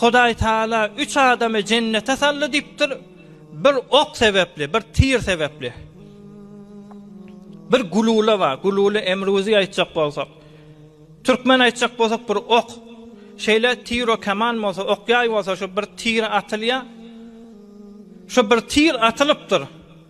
Hudaý Taala üç adamy jennete saldy diýipdir, bir ok sebäpli, bir tir sebäpli. Bir gulula bar, gulula emruzi aýtjak bolsak. Türkmen aýtjak bolsak bir ok. Şeýle tir o kaman bolsa, ok ýaý bolsa şu bir tir atylýar. Şu bir tir atylypdyr.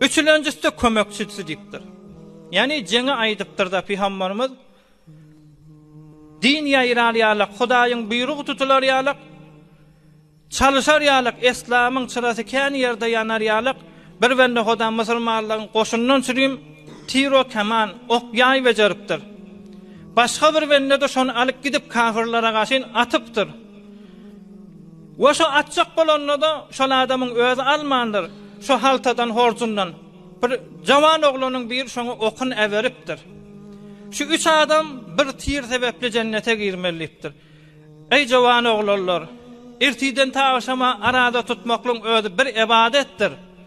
Üçülenjisde kömekçisi diýipdir. Ýagny jeňi aýdypdyr-da Pygambarymyz, Din ýaýrar ýalak, Hudaýyň buýrugy tutular ýalak, çalyşar ýalak, eslamyň çyrasy kän ýerde ýanar ýalak, bir bende Huda musulmanlaryň goşundan çürim tiro keman, ok ýaý bejeripdir. Başga bir bende-de şony alyp gidip kafyrlara gaşyn atypdyr. We şo atjak bolanda-da şol adamyň özi almandyr, şo haltadan, horjundan bir jawan oglanyň biri şoňa okun äberipdir. Şu üç adam bir tir sebäpli jennete girmeli diýipdir. Eý jawan oglanlar! Ertiden ta agşama arada tutmaklygyň özi bir ybadatdyr.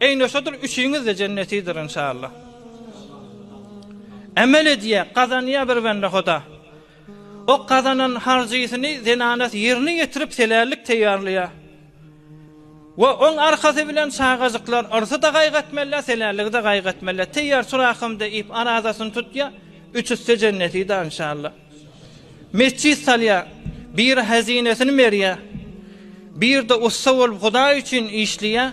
Eýne şodur üçiňizde jennetidir inşallah. Emel edýä, gazanýa bir bende hoda. O gazanan harjysyny zenanasy ýerine ýetirip helällik teýýarlaýa. We oň arkasy bilen çagajyklar yrsy-da gaýgy etmelä, helälligi-de gaýgy etmelä. Teýýar tur ahym diýip arazasyny tutýa, üç üste jennetida inşallah. Metjit salýa, biri hezinesini berýä. Birde ussa bolup hudaý üçin işleýä.